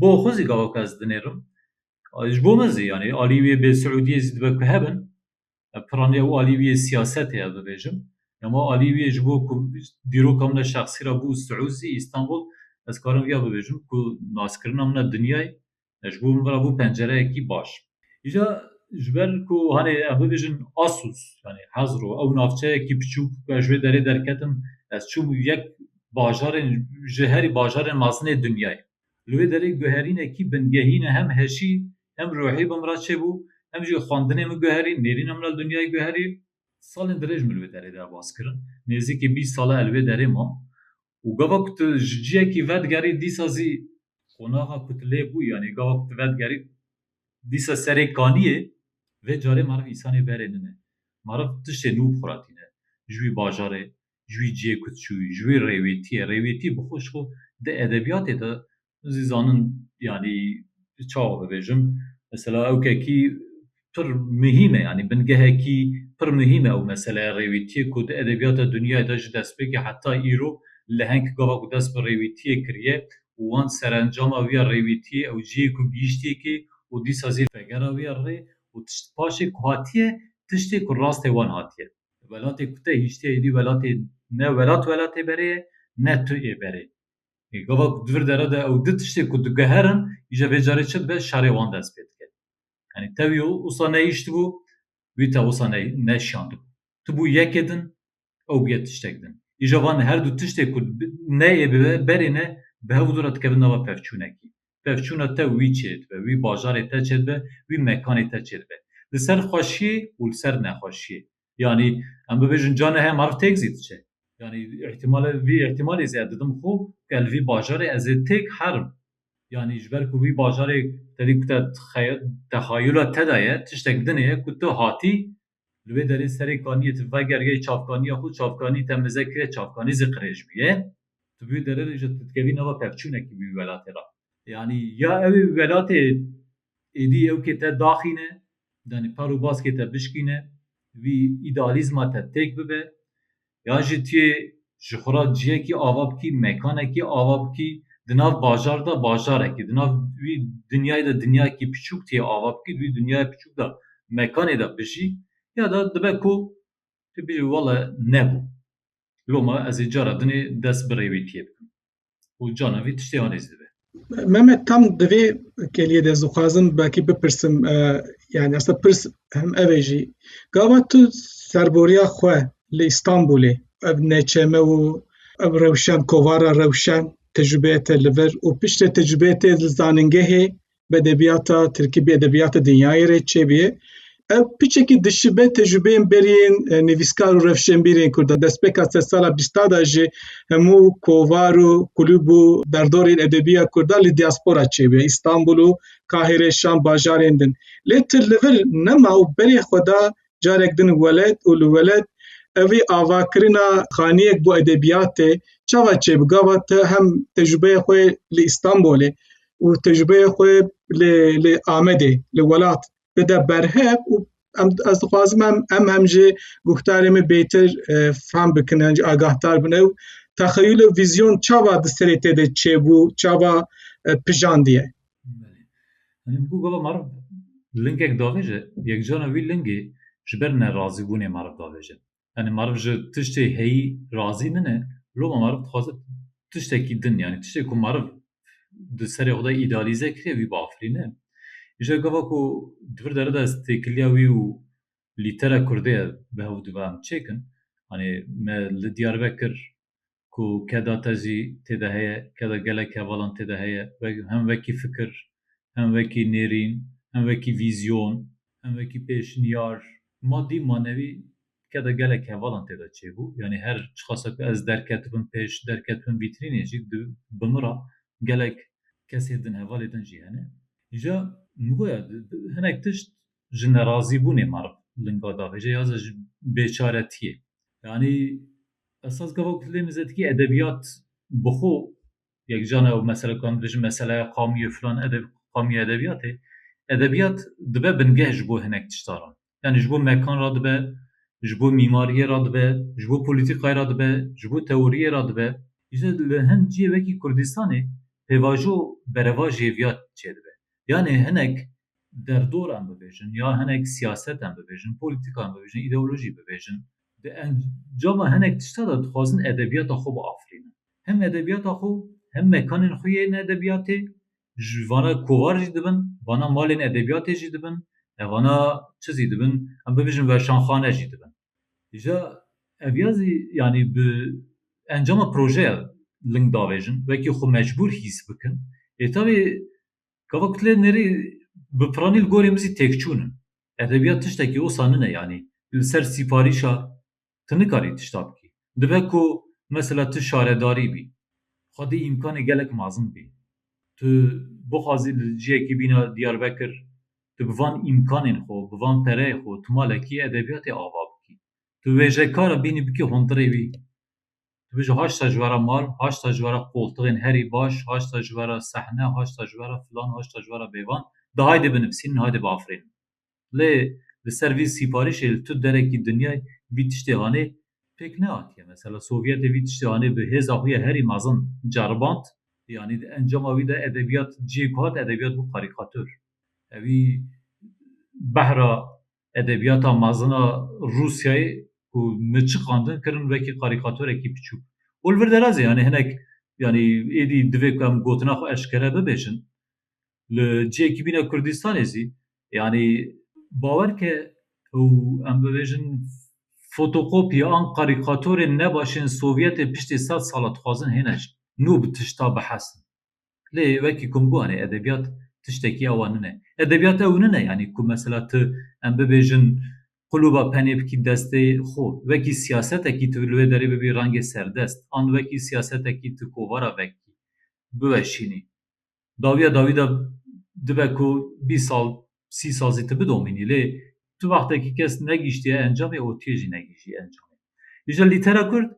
bo xwe zî gavaka ez dinêrim. Ji bo min zî yanî aliyî wê bê Siûdiyê zî dibe ku hebin. piranî ew alî wî yê sîyasetê ye bibêjim. Dema alî wî yê ji bo ku dîroka min e şexsî re bû Siûzî, Îstanbul, ez karim vîya bibêjim ku naskirina min e dinyayê ji bo min re bû pencereyekî baş. Îja ji ber ku hanê em bibêjin Asûs yanî Hezro ew navçeyekî piçûk ku ez ji wê derê derketim ez çûm yek bajarên ji herî bajarên mezin ê dinyayê. Li wê derê guherînekî bingehî ne hem heşî hem ruhî bi min re çêbû, hem jî xwendinê min guherî, nêrîna min li dinyayê guherî. Salên dirêj min li wê derê de baz kirin, nêzîkî bîst sal e li wê derê mam û gava ku tu ji ciyekî vedigerî dîsa zî qonaxa ku tu lê bû yanî gava ku tu vedigerî dîsa serê kaniyê. Vê carê meriv însanê berê nine, meriv tiştê nû bi xwe re tîne, ji wî bajarê ji wî ciyê ku çûyî, ji wî rêwêtiyê, rêwêtî bi xwe ji xwe di edebiyatê de hûn zî zanin yanî çawa bibêjim mesela ew kekî pir muhîm e yanî bingehekî pir muhîm e ew meseleya rêwîtiyê ku di edebiyata dinyayê de ji destpêkê heta îro leheng gava ku dest bi rêwîtiyê kiriye û wan serencama wî ya rêwîtiyê ew ciyê ku gihîştiye kê û dîsa zî vegera wî ya rê û tişt paşê ku hatiye tiştê ku rastê wan hatiye. Welatê ku te hiştî êdî welatê ne welat welatê berê ye ne tu ê berê. Gava ku di vir dere de ew di tiştê ku digiherin îje vê carê çi dibe şerê wan dest pê dike. Yanî te wî wisa nehiştibû wî te wisa neşiyandibû. Tu bû yekê din ew bûye tiştek din. Îje van herdu tiştê ku ne ê bibe berê ne bi hev û dû re dikevin nava pevçûnekî. pevçûna te wî çêdibe, wî bajarê te çêdibe, wî mekanê te çêdibe. Li ser xweşiyê û li ser nexweşiyê. Yanî em bibêjin cane heye meriv têk zî diçe. Yanî îhtîmale vî îhtîmalê zî ez didim xwe ku ez li vî bajarê ez ê têk herim. Yanî ji ber ku vî bajarê te dî ku te te xeyûla te de ye, tiştek din heye ku tu hatî Li wê derê serê kaniyê tu vegeriyayî çavkaniya xwe, çavkanî temize kiriye, çavkanî zî qirêj bûye. Tu wê derê re jî tu dikevî nava pevçûnekî wî welatê re. Yanî ya ew ê welatê êdî ewkê te daxîne, yanî per û baskê te bişkîne, wî îdealîzma te têk bibe, yan jî tu yê ji xwe re ciyekî ava bikî, mekanekî ava bikî, di nav bajar de bajarekî, di nav wî dinyayê de dinyayekî piçûk tu yê ava bikî, di wî dinyaya piçûk de mekanê de bijî ya da dibe ku tu bêjî wele nebû, loma ez ê cara din ê dest bi rê wê tiyê bikim. û cana vî tiştê anê jî dibe. Mehmet tam di vê keliyê de zixwazim belkî bipirsim e, yani aslında pirs hem ev e jî. Gava tu serboriya xwe li Îstanbulê ev neçeme û ev rewşen kovara rewşen tecrübeyê te li vir û piştê tecrübeyê te li zanîngehê bi edebiyata Tirkî bi edebiyata dinyayê rê çêbiyê. Ev piçekî dişibe tecrübeyên beriyên e, nivîskar û rewşenbîrên Kurda destpêka sed sala bîsta da jî hemû kovar û kulûb û derdorên edebiya Kurda li diaspora çêbiye Îstanbul û Kahire, Şam bajarên din. Lê tu li vir nema û berê xwe da carek din welet û li welet evî avakirina xaniyek bo edebiyatê çawa çêbi gava te hem tecrübeya xwe li Îstanbolê û tecrübeya xwe li li Amedê li welat bide berhev û em ez dixwazim em em hem jî guhdarê me bêtir e, fam bikin em jî agahdar bin ew texeyûl û vîzyon çawa di serê te de çêbû çawa e, pijandiye Hani bu gola meriv lingek davêje, yekcana wî lingê ji ber nerazîbûnê meriv davêje. Hani meriv ji tiştê heyî razî nine, loma meriv dixwaze tiştekî din yanî tiştê ku meriv di serê xwe de îdealîze kiriye wî biafirîne. Îja gava ku di vir dere de ez têkiliya wî û lîtera kurdê ye bi hev û dive em çêkin. Hani me li Diyarbekir ku keda te jî tê de heye, keda gelek hevalan tê de heye, hem wekî fikir, hem wekî nêrîn, hem wekî vîzyon, hem wekî pêşniyar, madî, manewî keda gelek hevalan tê de çêbû, yanî her çiqasa ku ez derketibim pêş, derketibim vîtrînê jî di bi min re gelek kesên din, hevalê din jî hene. Îja min goya hinek tişt ji nerazîbûnê meriv linga davêje ya ji bêçaretiyê. Yanî Ez saz gava ku tu dê mizetikî edebiyat bi xwe yekcan ew mesele ku em dibêjin meseleya qamî û filan edeb qamî û edebiyatê. Edebiyat dibe bingeh ji bo hinek tişta re. Yanî ji bo mekan re dibe, ji bo mîmariyê re dibe, ji bo polîtîkayê re dibe, ji bo teoriyê re dibe. Îja li hin ciyê wekî Kurdistanê pêvajo berevajê yê viya çêdibe. Yanî hinek derdor em bibêjin ya hinek siyaset em bibêjin, polîtîka em bibêjin, îdeolojî bibêjin. Di encama hinek tişta de dixwazin edebiyata xwe biafirînin. Hem edebiyata xwe, hem mekanên xwe yên edebiyatê, ji vana kovar jî dibin, vana malên edebiyatê jî dibin, vana çi zî dibin, em bibijin weşanxane jî dibin. Îja ev ya zî yanî bi encama projeya ling davêjin, wekî xwe mecbûr hîs bikin. Lê tevî Gava ku tu lê nêrî bi piranî li gorê min zî têkçûn in. Edebiyat tiştekî osa nine yanî li ser sîparîşa tu nikarî tişta bikî. Dibe ku mesela tu şaredarî bî. Xwe dê îmkanê gelek mezin bî. Tu bixwazî li ciyekî bîna Diyarbekir tu bi van îmkanên xwe, bi van pereyê xwe tu malekî edebiyatê ava bikî. Tu wêjekar e bînî bikî hondirê wî. Dibêje haşta ji vera mal, haşta ji vera qoltixên herî baş, haşta ji vera sehne, haşta ji vera filan, haşta ji vera bêvan. De haydê binivîsînin, haydê biafirînin. Lê li ser vî sîparîşê li tu derekî dinyayê vî tiştê hanê pêk nehatiye. Mesela Sovyetê vî tiştê hanê bi hêza xwe ya herî mezin ceriband. Yanî di encama wî de edebiyat cihê ku hat edebiyat bû karîkatur. Ewî behra Edebiyata mezin a Rûsyayê ku min çiqandin kirin wekî karîkatorekî piçûk. Û li vir derazê yanî hinek yanî êdî divê ku em gotina xwe eşkere bibêjin. Li cihekî bîne Kurdistanê zî yanî bawer ke ew em bibêjin fotokopya an karîkatorên nebaşên Sovyetê piştî sed sal e dixwazin hêne jin nû bi tişta bihesin. Lê wekî ku min got erê edebiyat tiştekî awa nine. Edebiyat ew nine yanî ku mesela tu em bibêjin quluba penê bikî destê xwe. Wekî siyasetekî tu li wê derê bibî rengê serdest an wekî siyasetekî tu kovara vekî biweşînî. Dawiya dawî de dibe ku bîst sal sî sal zî tu bidomînî lê tu wextekî kes negihîştiye encamê û tu yê jî negihîjî encamê. Îja lîtera kurd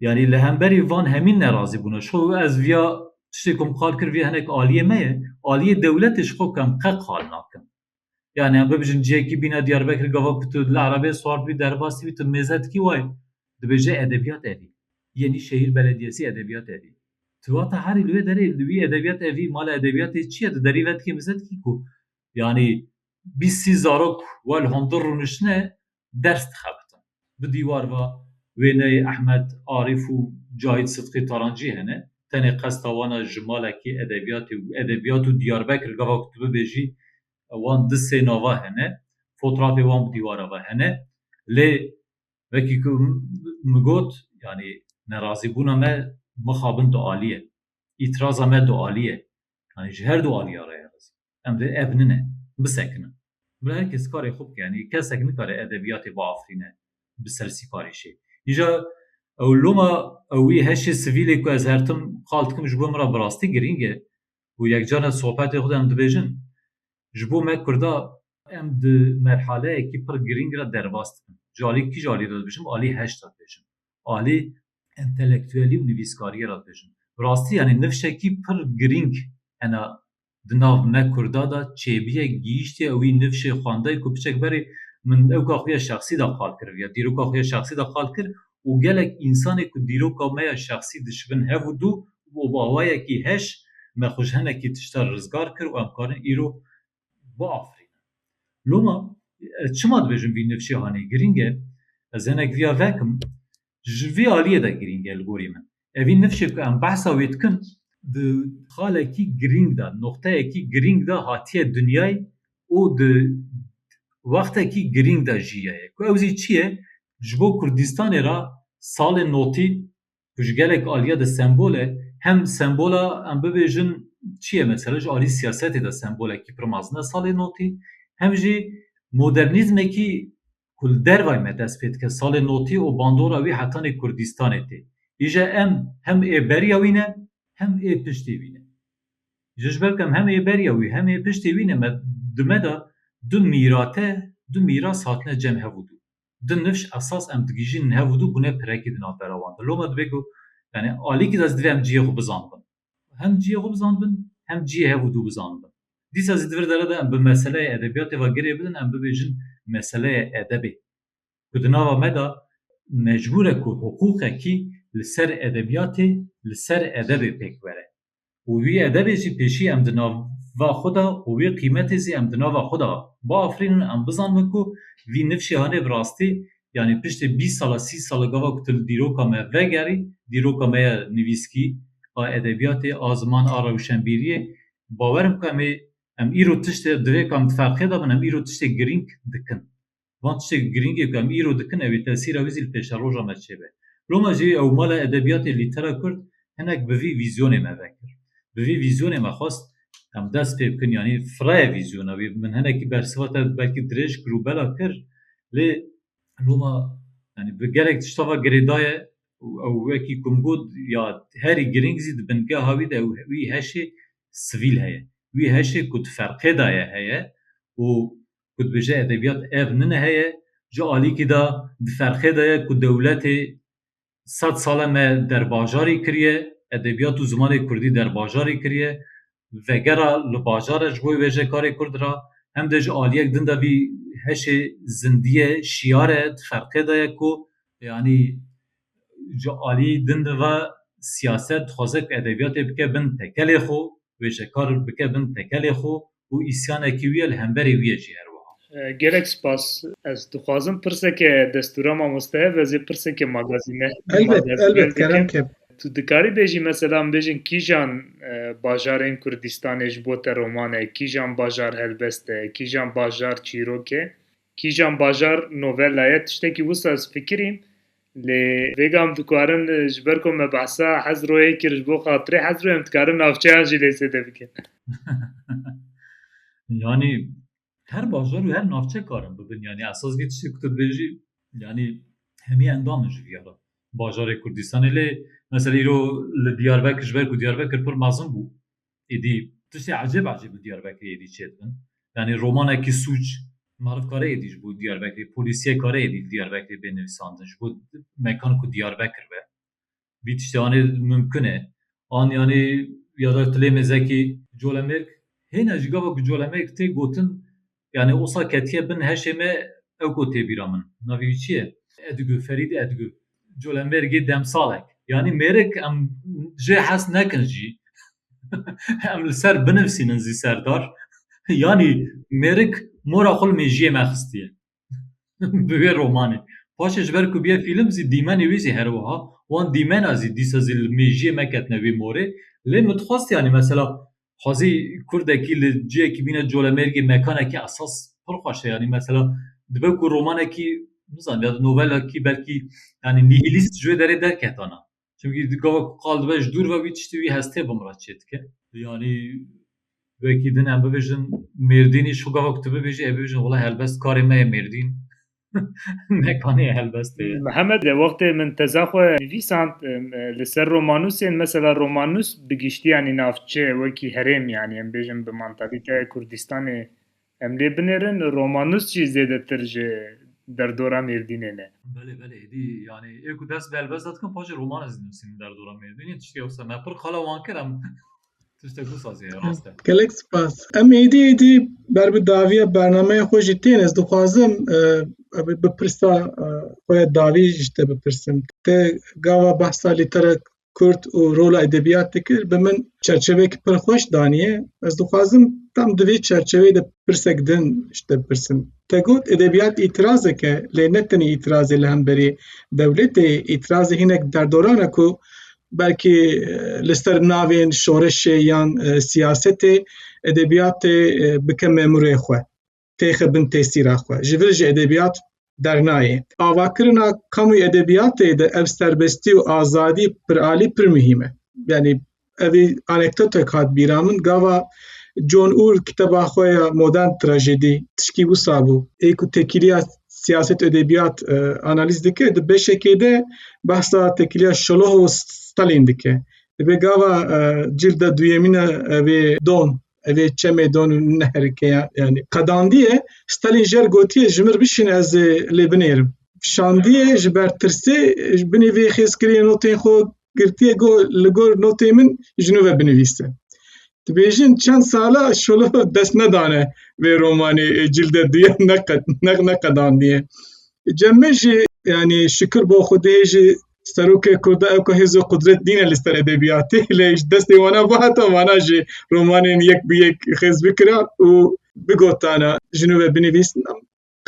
Yanî li hemberî van hemîn nerazî bûne. Ji xwe wê ez viya tiştê ku min qal kir vê hinek aliyê me ye. Aliyê dewletê ji xwe ku em qe qal nakin. Yanî em bibijin cihekî bîne Diyarbekirê gava ku tu li erebeyê swartibî derbasîbî tu mêze dikî wayê. Dibêje edebiyat evî. Yanî şehîr belediyesî edebiyat evî. Tu vata herî li wê derê li wî edebiyat evî mala edebiyatê çi ye tu derî vedikî mize dikî ku yanî bîst sî zarok wel hundir rûniştine ders dixebitin. Di dîwar ve wêneyê Ehmed Arîf û Cahît Sidqî Tarancî hene. Tenê qesta wan e ji malekî edebiyatê û edebiyat û Diyarbekir gava ku tu bibêjî wan di sê nava hene. Fotrafê wan bi dîwara ve hene. Lê wekî ku min got yanî nerazîbûna me mixabin du alî ye. Îtiraza me du alî ye. Yanî ji her du alîya re ye rizê. Em dê ev nine bisekinin. Bi her kes karê xwe bike. Yanî kesek nikare edebiyatê biafirîne bi ser sîparîşê. Îja ew loma ew wî heşê sivîlê ku ez her tim qal dikim ji bo min re bi rastî girîng e û yekcarî sohbetê xwe de em dibêjin ji bo me kurda, em di merhaleyekî pir girîng re derbas dibin. Ji alî kî ji alî re dibêjim? Alî heşt re dibêjim. Alî entelektuelî û nivîskariyê re dibêjim. Bi rastî yanî nifşekî pir girîng hena di nav me Kurda de çêbûye, gihîştiye û wî nifşê xwendayê ku piçek berê min ewka xwe ya şexsî de qal kiriviya, dîroka xwe ya şexsî de qal kir û gelek însanê ku dîroka me ya şexsî dişibin hev û du û bi awayekî heş me xwe ji hinekî tiştan rizgar kir û em karin îro biafirînin. Loma ez çima dibêjim vî nifşê hanê? Girîng e ez hinek viya vekim. Ji vê aliyê de girîng e li gorî min. Evîn nifşê ku em behsa wê dikin di xalekî girîng de, noqteyekî girîng de hatiye dinyayê û di wextekî girîng de jiyaye ku ew zî çi ye? Ji bo Kurdistanê re salê notî ku ji gelek aliye de sembol e, hem sembola em bibêjin çi ye mesela ji alî siyasetê de sembolekî pir mezin e salê notî, hem jî modernîzmekî ku li dervayê me dest pê dike, salê notî û bandora wî hetanî Kurdîstanê tê. Îje em hem ê beriya wî ne hem ê piştê wî ne. Îje ji ber ku em hem ê beriya wî hem ê piştê wî ne me di me de du mîrate, du mîras hatine cem hev û du. Du nifş esas em digihîjînin hev û du bûne pirekî di navbera wan de. Loma dibê ku yanî alîkî de ez divê em cihê xwe bizanibin. Hem ciyê xwe bizanibin, hem ciyê hev û dû bizanibin. Dîsa zî di vir dere de em bi meseleyê edebiyatê ve girê bidin, em bibêjin meseleyê edebê. Ku di nava me de mecbûr e ku hiqûqekî li ser edebiyatê, li ser edebê pêk bere. Û wî edebê jî pêşî em di nava xwe de û wî qîmetê zî em di nava xwe de biafirînin, em bizanibin ku vî nifşê hanê bi rastî Yanî piştê bîst sala, sî sala gava ku tu li dîroka me vegerî, dîroka me ya nivîskî, a edebiyatê, a ziman, a rewşenbîriyê, bawer bike em ê em îro tiştê divê ku em di ferqê de bin, em îro tiştê girîng dikin. Van tiştê girîngê ku em îro dikin ew ê tesîra wî zî li pêşeroja me çêbe. Lo me jî ew mala edebiyatê lîtera kurd hinek bi vî vîzyonê me vekir. Bi vî vîzyonê me xwest em dest pê bikin yanî firaya vîzyona wî min hinekî bersiva te belkî dirêj kir û bela kir lê loma yanî bi gelek tişta ve girê daye û ew wekî ku min got ya herî girîng zî di bingeha wî de wî heşê sivîl heye wî heşê ku di ferqê de ye heye û ku dibêje edebiyat ev nine heye ji alîkî de di ferqê de ye ku dewletê sed sale me derbajarî kiriye, edebiyat û zimanê kurdî derbajarî kiriye, vegera li bajar e ji bo wêje karê kurd ra, hem de ji aliyek din de vî heşê zindiyê şiyar e di ferqê de ye ku, yanî ji aliyî din de ve siyaset dixwaze ku edebiyatê bike bin tekelê xwe, wêjekar bike bin tekelê xwe û îsyanekî wî ye li hemberî wî ye jî her wiha. Gelek spas. Ez dixwazim pirseke destûra mamoste ye vêzê pirseke magazîne. Elbet, elbet kerem kem. Tu dikarî bêjî mesela em bêjin kîjan bajarên Kurdistanê ji bo te roman e, kîjan bajar helbest e, kîjan bajar çîrok e, Kîjan bajar novella ye tiştekî wisa ez fikirîm lê vêga em dikarin ji ber ku me behsa Hezroyê kir ji bo xatirê Hezroyê em dikarin navçeyan jî lê zêde bikin. Yanî her bajar û her navçe karin bibin yanî esas vî tiştê ku tu dibêjî yanî hemî endam in ji vî ya re. Bajarê Kurdistanê lê mesela îro li Diyarbekir ji ber ku Diyarbekir pir mezin bû êdî tiştê ecêb ecêb li Diyarbekirê êdî çêdibin. Yanî romanekî sûc marifkare êdî ji bo Diyarbekirê, polîsiyekare êdî li Diyarbekirê bê nivîsandin ji bo mekan ku Diyarbekir be. Vî tiştê anî mimkun e. An yanî ya da Tilê Mêzekî, Colemêrg, hêna ji gava ku Colemêrg tê gotin Yanî osa ketiye bin heşê me ew ku tê bîra min. Navê wî çi ye? Edgû, Ferîd Edgû. Colemêrgê demsalek. Yanî mêrik em jê hez nekin jî em li ser binivîsînin zî serdar. Yanî mêrik mora xwe li mêjiyê me xistiye bi wê romanê. Paşê ji ber ku bûye fîlm zî dîmenê wî zî her wiha. Wan dîmena zî dîsa zî li mêjiyê me ketine wê morê. Lê min dixwest yanî mesela xwezî kurdekî li ciyekî bîne colemêrgê mekanekî esas pir xweş e yanî mesela dibe ku romanekî nizan ya novelekî belkî yanî nihîlîst ji wê derê derketana çimkî gava ku qal dibe ji dûr ve wî tiştî wî hestê bi min re çê dike yanî wekî din em bibêjin mêrdînî ji xwe gava ku tu bibêjî ew bibêjin wela helbest karê me ye mêrdîn. Mekanê helbestê ye. Mihemed e wextê min teza xwe nivîsand li ser romanûsên mesela romanûs bi giştî yanî navçe wekî herêm yanî em bêjin bi mantalîteya Kurdistanê em lê binêrin romanûs jî zêdetir ji derdora Mêrdînê ne. Belê belê êdî yanî ê ku dest bi helbesta dikim paşê roman ez dînûsînim derdora Mêrdînê tiştê wisa me pir qala wan kir em Tiştek wisa zê rast e. Gelek spas. Em êdî êdî ber bi daviya bernameya xwe jî tên ez dixwazim bi pirsa xwe ya davî ji te bipirsim. Te gava behsa lîtera Kurd û rola edebiyat dikir bi min çerçevek pir xweş daniye. Ez dixwazim tam di vê çerçeveyê de pirsek din ji te bipirsim. Te got edebiyat îtirazek e lê ne tenê îtirazê li hemberî dewletê îtirazê hinek derdoran e ku belkî li ser navên şoreşê yan siyasetê edebiyatê bike memurê xwe, têxe bin tesîra xwe. Ji vir jî edebiyat dernayê. Avakirina kamûyî edebiyatê de ev serbestî û azadî piralî pir muhîm e. Yanî evî anekdotek hat bîra min gava John Ull kiteba xwe ya modern trajedî tişkî wisa bû. Ê ku tekîliya Siyaset û edebiyat e, analiz dike di beşekê de behsa tekiliya Şoloh û Stalin dike. Divê gava e, cilda duyemîn e evê don evê çemê don û neherike ya- yanî qedandiye Stalin jer gotiye ji mir bişîn ez ê lê binêrim. Şandiye ji ber tirsê ji binê vê xêzkiriyê notên xwe girtiye go li gor notê min ji nû ve binivîste. Dibêjin çend sala şolo dest nedane vê romanê ê cilde duye neqed neq neqedandiye. Cemme jî yanî şikir bo Xwedê jî serokê Kurda ew ku hêz û qudret dîne li ser edebiyatê lê ji destê wana bo heta wana jî romanên yek bi yek xêz bikira û bigotana ji nû ve binivîsna.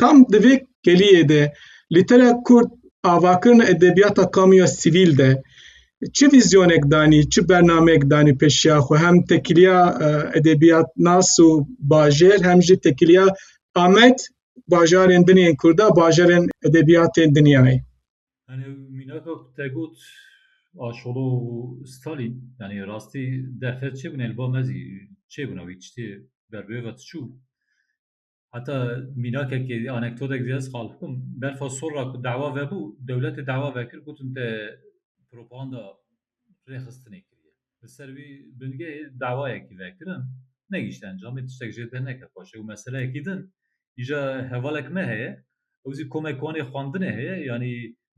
Tam di vê keliyê de lîtera kurd avakirina edebiyata kamuya sivîl de çi vîzyonek danî, çi bernamek danî peşiya xwe hem tekiliya e, edebiyatnas û bajêr hem jî tekiliya Amed bajarên dinên kurda bajarên edebiyatên dinyayê. Yani minaka tegot aşolo Stalin yani rastî derfet çêbûne li ba mezî çêbûna wî tiştê berbêva tiçû Heta mînakekê anektodek zî ez xal bikim. Berfa sorra ku dawa vebû, dewletê dawa vekir gotin te propaganda rêxistinê kiriye. Li ser vî bingehê dawayekî vekirin, negihîşt encamê, tiştek jê deh neket paşê û meseleyekî din îja hevalek me heye, ew zî komek wanê xwendinê heye, yanî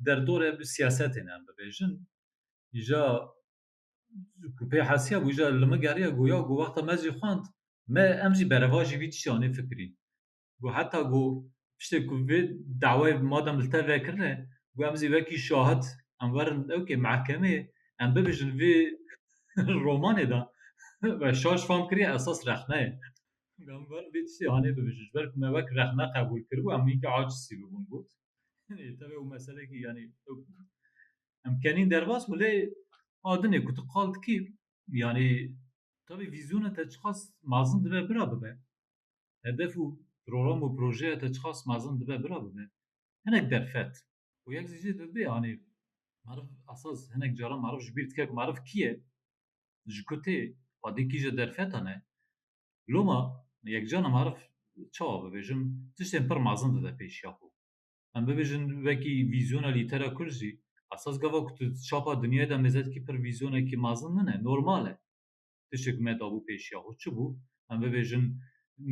derdorê siyasetê ne em bibêjin, îja ku pê hesiya bû îcar li min geriya ku ya ku wexta me jî xwend me em jî berevajî vî tiştanê fikirî ku heta ku piştê ku vê dawayê madem li te vekirine ku em jî wekî şahid em werin ewkê mehkemê em bibêjin vê romanê de ve şaş fam kiriye esas rexne ye. Em werin vê tiştê anê bibêjin ji ber ku me wek rexne qebûl kiribû em hînkî acizî bûbûn got. Yanî tevî ew meselekî yanî Em kenîn derbas û lê a dinê ku tu qal dikî yanî tevî vîzyona te çiqas mezin dibe bira bibe. Hedef û program û projeya te çiqas mezin dibe bira bibe. Hinek derfet û yek jî dibê yanî meriv esas hinek caran meriv ji bîr dike ku meriv kî ye? Ji ku tê? Xwedî kî ji derfetan e? Loma yekcana meriv çawa bibêjim tiştên pir mezin dide pêşiya xwe. Em bibêjin wekî vîzyona lîtera kurd jî esas gava ku tu di çapa dinyayê de mêze dikî pir vîzyonekî mezin nine, normal e. Tiştê ku me dabû pêşiya xwe çi bû? Em bibêjin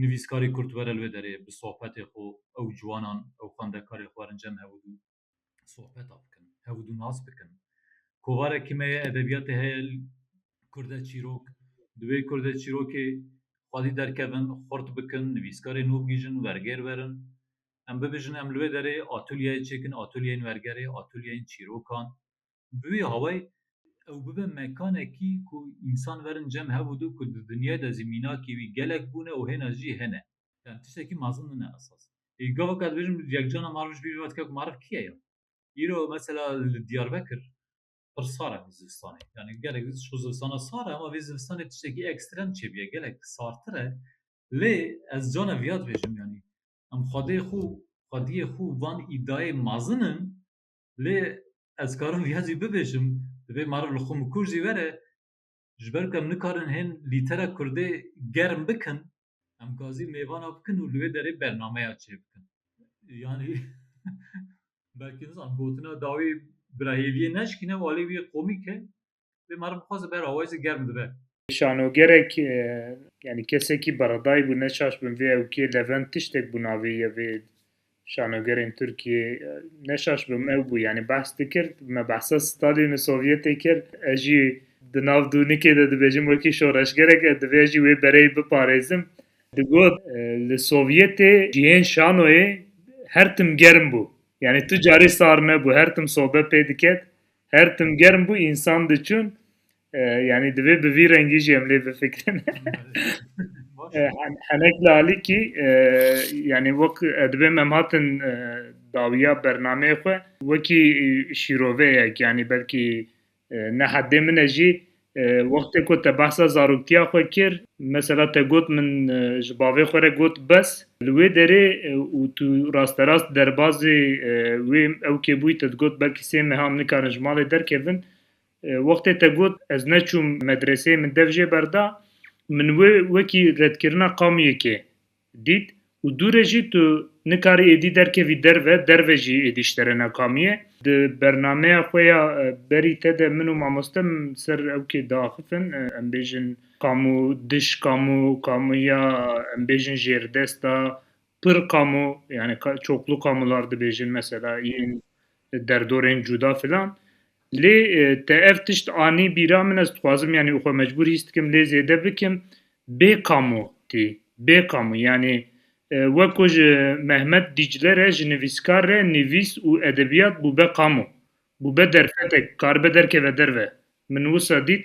nivîskarê kurd were li wê derê bi sohbetê xwe ew ciwanan, ew xwendekarê xwe werin cem hev û dû sohbeta bikin, hev û dû nas bikin. Kovarekî me ye edebiyatê heye kurde çîrok, divê kurde çîrokê xwedî derkevin, xurt bikin, nivîskarê nû bigihîjin, wergêr werin. Em bibêjin em li wê derê atulyeyê çêkin, atulyeyên wergerê, atulyeyên çîrokan. Bi wî hawayî ew bibe mekanekî ku însan werin cem hebû dû ku di dinyayê de zî mînakî wî gelek bûne û hêna jî hene. Em tiştekî mezin nine esas. Ê gavaka dibêjin yekcana mariv ji bîr ve dike ku mariv kî ye ya? Îro mesela li Diyarbekir pir sar e vê zivistanê. Yanî gelek ji bo zivistana sar e ama vê zivistanê tiştekî ekstrem çêbûye. Gelek sartir e. Lê ez cana viya dibêjim yanî Em xwedê xwe xwediyê xwe van îdayê mazin in lê ez karim viya jî bibêjim divê meriv li xwe mikur jî were ji ber ku em nikarin hên lîtera kurdê germ bikin em gazî mêvana bikin û li wê derê bernameya çê bikin. Yanî belkî nizanim gotina dawî bi ra hêviyê neşikîne walê wî komîk e Vê marê bi xwe zî bera wê zî germ dibe. Şanogerek yani kesekî beredayî bû neçaş bin vê ewkê levent tiştek bû navê ye vê şanogerên Tirkiyê neşaş bim ew bû yani behs dikir me behsa Stalin û Sovyetê kir ez jî di nav dûnikê de dibêjim wekî şoreşgerek ez divê jî wê bereyê biparêzim digot li Sovyetê cihên şanoyê her tim germ bû yani tu carî sar nebû her tim sobe pê diket Her tim germ bû insan diçûn yani divê bi vî rengî jî em lê bifikirin. Henek li alîkî yani wek dibê em hatin dawiya bernameyê xwe wekî şîroveyek yani belkî ne heddê min e jî Wextê ku te behsa zaroktiya xwe kir, mesela te got min ji bavê xwe re got bes, li wê derê û tu rasterast derbazê wê ew kêbûyî te digot belkî sê meha em nikarin ji malê derkevin, wextê te got ez neçûm medreseyê min dev jê berda, min wê wekî redkirina qamiyekê Dît û dû re jî tu nikarî êdî derkevî derve, derve jî êdî ji te re nekamîye. Di bernameya xwe ya berî te de min û mamoste min ser ewkê diaxifin, em bêjin kamu dij kamu, kamuya em bêjin jêrdesta, pir kamu, yanî çoklu kamular dibêjin mesela yên derdorên cuda filan. Lê te ev tişt anî bîra min ez dixwazim yanî xwe mecbûr hîs dikim lê zêde bikim bê kamu tî bê kamu yanî wek ku ji Mehmet Dîcle re ji nivîskar re nivîs û edebiyat bûbe kamu bûbe derfetek karibe derkeve derve min wisa dît